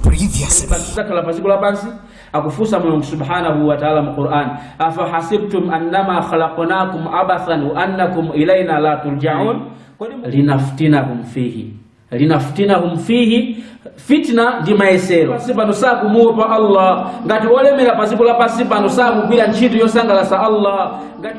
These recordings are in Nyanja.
Previously. tidzakhala pa dziko lapansi akufunsa mulungu subhanahu wa taala mu quran afahasibtum annama khalaqnakum abathan wa annakum ilaina la turjaun kodi mu- linaftinahum fihi linaftinahum fihi fitna ndi mayesero pansi pano sakumuopa allah ngati olemera pa dziko lapansi pano sakugwira ntchito yosangalatsa allah ngati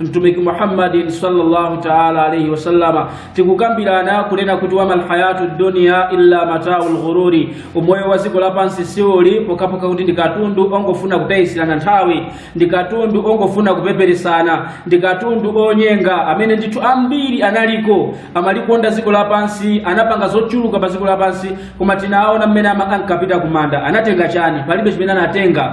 mtumiki muhammadin sallallahu taala alaihi wasallama tikukambirana kunena kuti wamal hayatu dunia illa matau lghururi umoyo wa dziko lapansi siuli pokapoka kuti ndi katundu ongofuna kutayisirana nthawi ndi katundu ongofuna kupeperesana ndi katundu onyenga amene ndithu ambiri analiko amalikonda dziko lapansi anapanga zochuluka pa dziko lapansi koma tinaona mmene ama- ankapita kumanda anatenga chani palibe chimene anatenga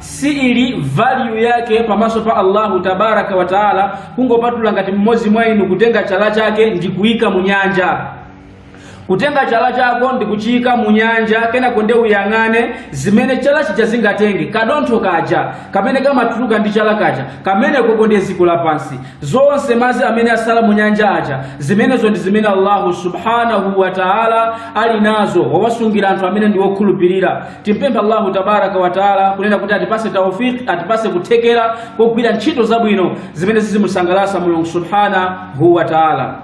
siili value yake pamaso pa allahu tabaraka wataala kungopatula ngati mmodzi mwa inu kutenga chala chake ndi kuyika mu nyanja kutenga chala chako ndi kuchiyika mu nyanja kenako nde uyang'ane zimene chala chija zingatenge kadontho kaja kamene kamatuluka ndi chala kaja kameneko ndi dziko lapansi zonse madzi amene asala mu nyanja aja zimenezo ndi zimene allahu subhanahu wataala ali nazo wawasungira anthu amene ndi wokhulupirira Timpemphe Allahu tabaraka wa taala kunena kuti atipase taufiki, atipase kuthekera kogwira ntchito zabwino zimene zizimusangalatsa Mulungu subhanahu wa taala.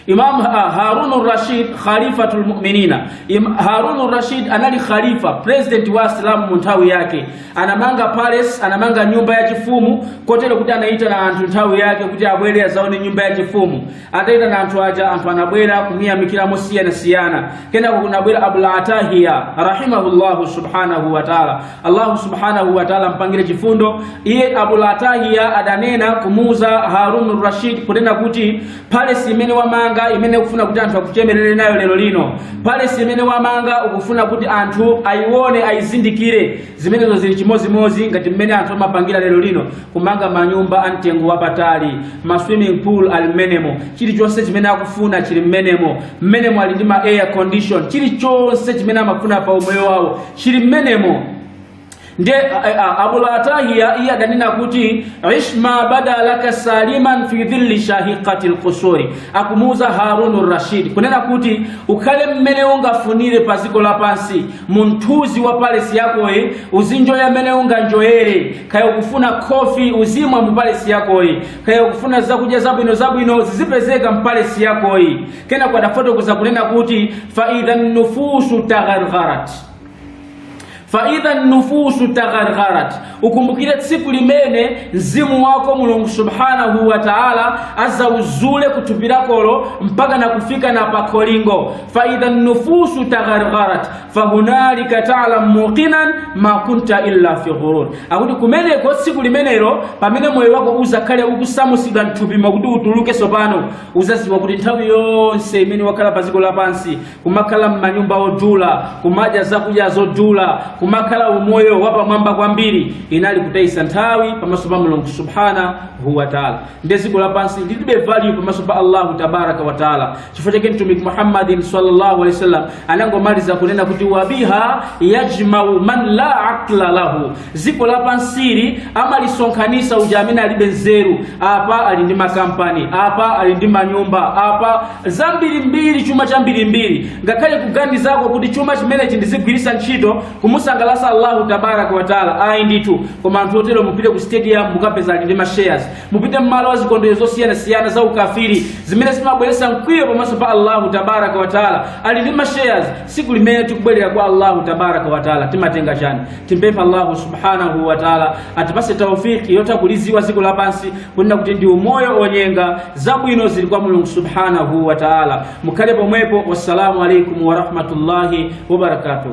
Imam ah, Harun Rashid Khalifatul Mu'minina. Im- Harun Rashid anali khalifa, president wa Asilamu mu nthawi yake. Anamanga palace, anamanga nyumba ya chifumu, kotero kuti anaitana anthu nthawi yake kuti abwere azaone nyumba ya chifumu. ataitana anthu aja anthu anabwera kumuyamikira mosiyanasiyana kenako kunabwera abul atahiya rahimahullahu subhanahu wataala allahu subhanahu wataala ampangire chifundo iye abul atahiya adanena kumuuza harun rashid kunena kuti palesi imene wamanga imene ukufuna kuti anthu akuchemerere nayo lero lino palesi imene wamanga ukufuna kuti anthu ayione ayizindikire Zimenezo zili chimodzimodzi ngati mmene anthu amapangira lero lino, kumanga manyumba a mtengo wapatali, ma swimming pool ali mmenemo, chilichonse chimene akufuna chili mmenemo, mmenemo ali ndi ma air condition, chilichonse chimene amafuna pa umoyo wawo chili mmenemo. Nde a- a- Abul Atahiya iye adanena kuti ish ma bada laka saliman fi dhilli shahiqati lqusuri, akumuuza Harunu Rashid kunena kuti ukhale mmene ungafunire pa dziko lapansi mumthunzi wa palesi yakoyi uzinjoya mmene unganjoyere kaya ukufuna khofi uzimwa mu palesi yakoyi kaya ukufuna zakudya zabwino zabwino zizipezeka mpalesi yakoyi kenako adafotokoza kunena kuti faidha nufusu taghargharat faidha nufusu taghargharat ukumbukire tsiku limene mzimu wako mulungu subhanahu wa taala azauzule kuthupi lakolo mpaka na kufika na pakholingo faidha nufusu taghargharat fahunalika talam muqinan ma kunta illa fi ghurur akuti kumeneko tsiku limenelo pamene moyo wako uzakhale ukusamusidwa mthupi mwako kuti utuluke sopano uzaziwa kuti nthawi yonse imene wakhala pa dziko lapansi kumakhala m'manyumba odula kumadya zakudya zodula kumakhala umoyo wapamwamba kwambiri inali kutayisa nthawi pamaso pa mulungu subhanahu wataala nde dziko lapansi lilibe value pamaso pa allahu tabaraka wataala chifukwa chake mtumiki muhammadin sallallahu alaihi wasallam anangomaliza kunena kuti wabiha yajmau man la aqla lahu dziko lapansili amalisonkhanisa uja amene alibe nzeru apa ali ndi makampani apa ali ndi manyumba apa zambirimbiri chuma chambirimbiri ngakhale kuganizako kuti chuma chimenechi ndizigwiritsa ntchito kumusangalasa allahu tabaraka wataala ayi ndithu koma anthu otero mupite ku stadium mukapeza ali ndi mashares mupite mmalo wa zikondwero zosiyanasiyana za ukafiri zimene zimabweretsa mkwiyo pamaso pa allahu tabaraka wataala ali ndi mashares siku limene tikubwerera kwa allahu tabaraka wataala timatenga chani Timpempha Allahu subhanahu wa taala atipatse taufiki yotha kuliziwa ziko lapansi kunena kuti ndi umoyo onyenga zabwino zili kwa mulungu subhanahu wa taala mukhale pomwepo wassalamu alaikum warahmatullahi wabarakatuh